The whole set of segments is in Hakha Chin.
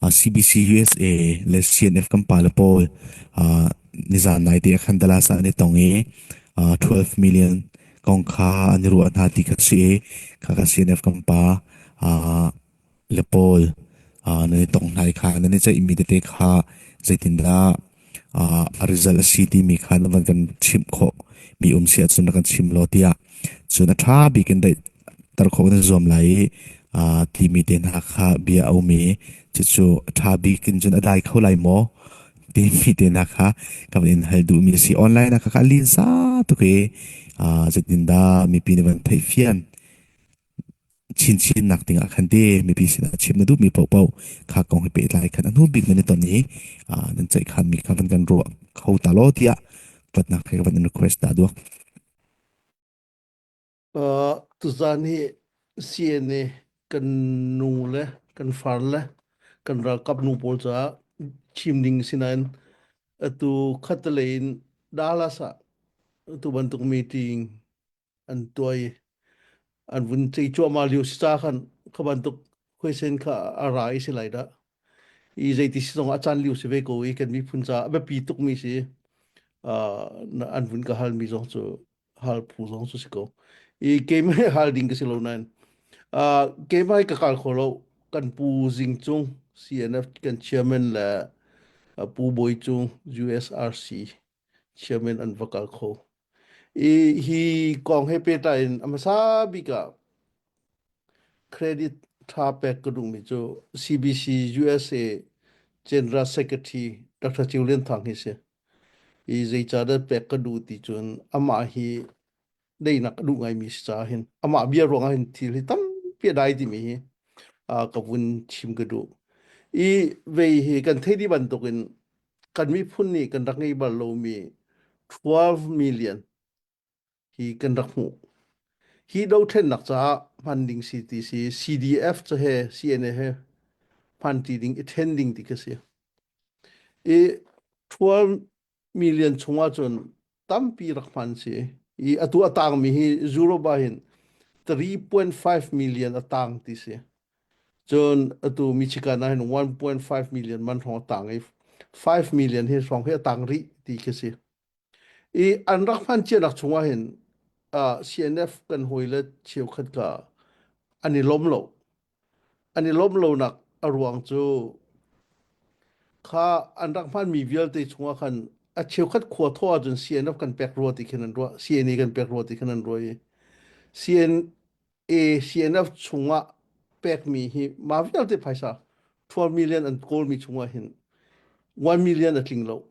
CBC USA le CNF kan pale pawl nizaan naite ah khan Dallas ah an i tong i 12 million kong kha an i ruah hna ti kha si i kha kha CNF kan pa le pawl nan i tong hna i kha nan i ceihmi tete kha zeitindah a result a si timi kha na van kan chimh khawh mi um si ahcun na kan chim law tiah cun a ṭha bik in daihter khawh nan zuam lai i timi te hna kha bia a um i cucu a ṭha bik in cun a dai kho lai maw timi te hna kha ka van in hal duhmi a si online ah ka ka lin sa tuk i zeitindah mipi nih van theih fian Chinchinnak dingah khan ti mipi sinah chim na duhmi paohpaoh kha kong he pehtlai khan a hnu bik nan i ton i nan ceihkhanmi kha van kan ruah kho ta law tiah hlawtnak he van in request ta duak. Tuzan hi CNA kan nu le kan far le kan ralkap nu pawl caah chim ding sinain atu khatalei in Dallas ah tu bantuk meeting an tuai an vun chei cuahmah lio si ca khan kha bantuk huisen kha a ra i si lai da i zeiti si zong a caan liu si ve ko i kan miphun ca a biapi tuk mi si an vun ka hal mi zong cu hal phu zong cu si ko i keimai hal ding ka si lo nain keimai ka kal kho lo kan pu jing chung CNF kan chairman le pu boi chung USRC Chiamen an va kal kho. I hi kong he pehtlai in a hmasa bik ah credit tha pek ka duhmi cu CBC USA General Secretary Dr. Chiu Lian Thang hi si. I zeicahdah pek ka duh ti cun amah hi deinak a duh ngaimi si caah hin amah bia ruangah hin thil hi tampi a dai timi hi ka vun chim ka duh i vei hi kan thei di bantukin kan miphun nih kan rak ngei bal lomi 12 million hi kan rak hmuh hi dothlennak caah hman ding si ti si CDF ca he CNA he hman ti ding i then ding ti ka si i 12 million chungah cun tampi rak hman si i atu a tangmi hi Europe ah hin 3.5 million a tang ti si cun atu Michigan ah hin 1.5 million man hrawng a tang i 5 million hi hrawng hi a tang rih ti khi si i an rak hman cianak chungah hin uh, CNF kan hawile cheukhat ka an i lom lo an i lawmh lonak a ruang cu kha an rak hmaanmi vialte chungah khan a cheukhat khua thawh ahcun CNF kan pek rua ti khin an ruah CNA kan pek rua ti khin an ruah i CNA CNF chungah pekmi hi mah vialte phaisa 12 million an kawlmi chungah hin 1 million a tling lo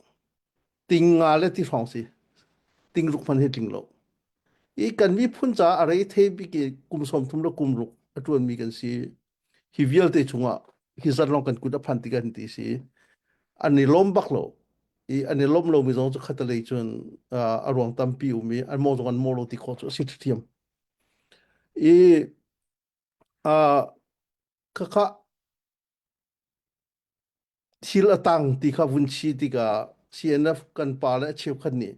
ting nga le ti hrawng si ting ruk hman hi tling lo i kan miphun caah a rei thei bik i kum sawm thum le kum ruk a tuan mi kan si hi vialte chungah hi zan long kan kut a phan tikan ti si an i lom bak lo i an i lom lo mi zong cu khatalei cun a ruang tampi um i an mo zong an mo lo ti kho cu a si thiam i khakha Thil a tang ti kha vun si tikah CNF kan pa le cheukhat nih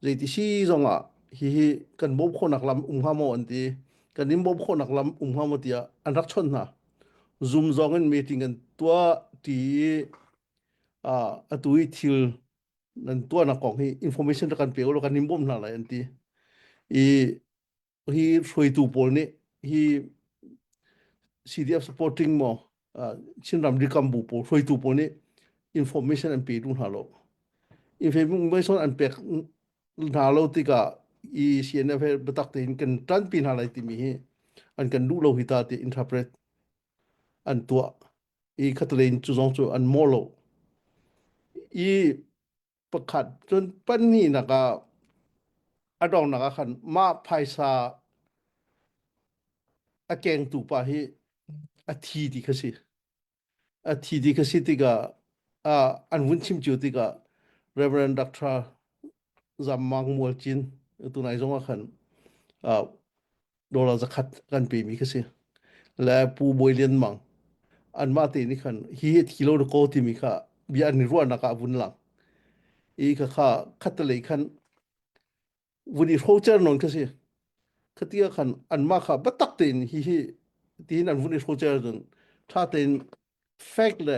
zeiti si zongah hihi kan bawm khawhnak lam um hnga maw an ti. Kan in bawm khawhnak lam um hnga maw tiah an rak chawnh hna. Zoom zong in meeting an tuah ti i uh, atu i thil nan tuahnak kong hi information ra kan pe ulaw kan in bawm hna lai an ti. I hi hruaitu pawl nih hi CDF supporting maw Chinram rikam bu pawl hruaitu pawl nih information an pe duh hna lo information an pek hna lo tikah i CNF he biatak tein kan tanpi hna lai timi hi an kan duh lo hi ta ti interpret an tuah i khatale in cu zong cu an mawh lo i pakhat cun pahnihnak ah a donghnak ah khan mah phaisa a kengtu pa hi a thi ti kha si a thi ti kha si tikah uh, an vun chim cio tikah Reverend Dr. Zam Mang Mual Cin tunai zong ah khan uh, dollar zakhat kan pe mi kha si le pu bawi lian mang an mah te ni khan hi kilo ko ti mi kha bia an ruah nak ah vun lang i kha kha khat lei khan vun i rocher non kha si khatia khan an mah kha batak tein hi hi tin an vun i rocher don tha tein fact le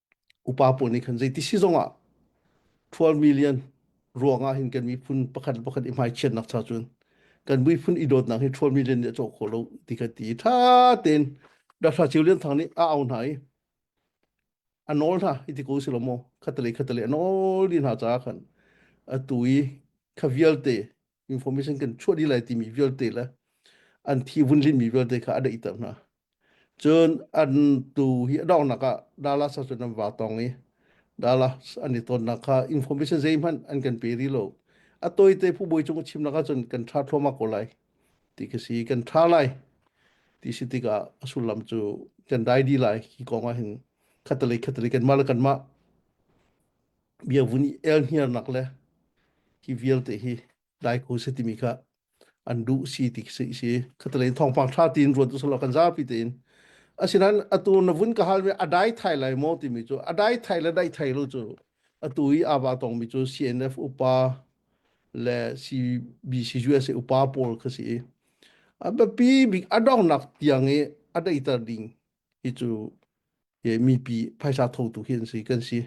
upa pawl nih khan zei ti si zongah 12 million ruangah hin kan miphun pakhat le pakhat i hmaichiatnak cha cun kan miphun i dawtnak hi 12 million nih a cawk khawh lo ti ka ti tha tein dahra ceu lian thang nih a au hna i a nawl hna i ti ko si lo maw khatalei khatalei a nawl i hna caah khan atu i kha vialte information kan chuah dih lai timi vialte le an thi vunlin mi vialte kha a daih ter hna cun an tu hi adongnak ah dala sa cun an wa tong i dala an i tonnak kha information zei hman an kan pe ri lo a toy te phu boi chung chim laka cun kan tha thloma ko lai ti ka si kan tha lai ti si tika sullam cu kan dai di lai ki konga hin khatale khatale kan ma la kan ma bia vun i el hniarnak le hi vialte hi dai ko se timi kha an duh si ti si si khatalein thongpang tha tin ruat usalo kan zapi tein asinan atu na vun ka hal ve adai thai lai mo timi chu adai thai le dai thai lo chu atu i aba tong mi chu CNF upa le CBC USA upa pawl kha si i abapi bik adong nak tiang i adaitar ding hi cu i mipi phaisa thotu hi an si kan si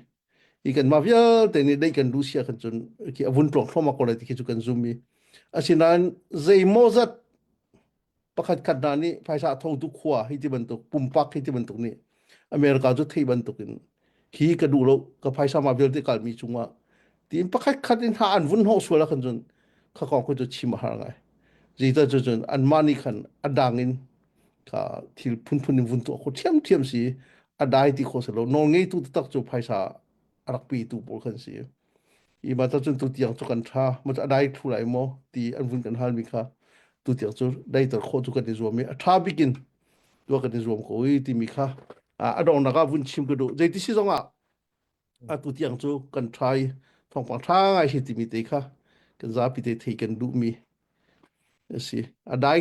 i kan mah vialte nih dei kan lucia kan cun khi avun tlok thloma ko lai ti khi cu kan zum i asinain zeimaw zat pakhat khat hna nih phaisa thotu khua hi ti bantuk pumpak hi ti bantuk nih america cu thei bantuk in hi ka duh lo ka phaisa ma vialte kalmi cungah tiin pakhat khat in ha an vun hnawh sual ah khan cun kha kong cu chim a har ngai zeita cu cun anmah nih khan a dang in ka thil phunphun in vun tuah kho thiam thiam si a dai ti kho selo nawl ngeitu taktak cu phaisa a rak pe tu pawl kan si i ma ta cun tu tiang cu kan tha ma a dai thu lai maw ti an vun kan hal mi kha tu tiang cu dai tar kho cu kan i zuam i a tha bikin tua kan i zuam ko i ti mi kha a dong nak ah vun chim ka du zei ti si zong ah a tu tiang cu kan trai thong pang tha ngai hi ti mi te kha kan za pi te thei kan du mi a si a dai